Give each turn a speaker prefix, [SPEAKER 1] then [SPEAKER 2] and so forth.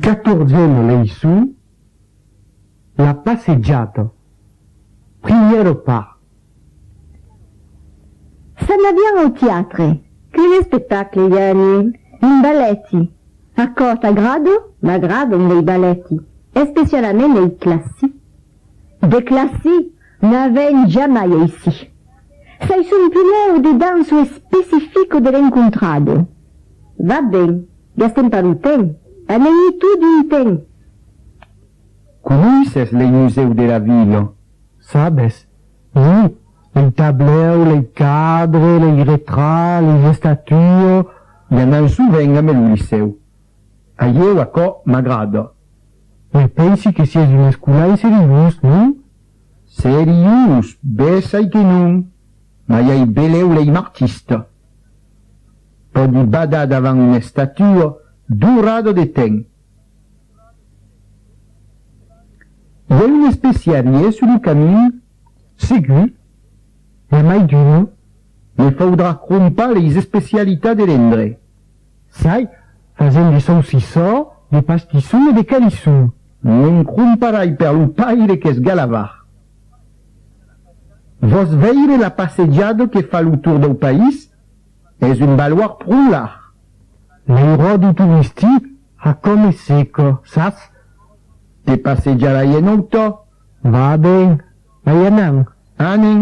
[SPEAKER 1] Quatorzièma leiçon, La passejada, primièro part. S'anavián au tiatre. Quin espectacle i a anir? Un balèti. Aquò t'agrada? M'agradan lei balèti, especialament lei classic. De classic! N'a vèn jamai aicí. Sai son pilèu de danço especifico de l'encontrado. Va ben, gastem pas lo temps, anèm-i tot d'un temps. Conoisses lei musèu de la vila? Sabes? Ui, lei tablèu, lei cadre, lei retrats, lei estatues. I anam sovent ambe lo licèu. A ieu aquò m'agrada. Me pensi que sies un escolan seriós, non? Seriós, bes ai que non, mai ai belèu lei m'artista. Pòdi badar davant una estatua dorada de t'en. I a un especialier sus lo camin? Segur, e a mai d'una, me faudrà crompar leis especialitats de l'endre. Sai, fasent de saucissò, de pastisson e de calisson. Mon cromparai per lo paire qu'es galavar. Vòs veire la passejada que fa lo tour dau país? Es un baloir pro larg. L'airòdro touristi a com es seca, sas? Te passejarai en autò. Va ben, ai anant. Anen.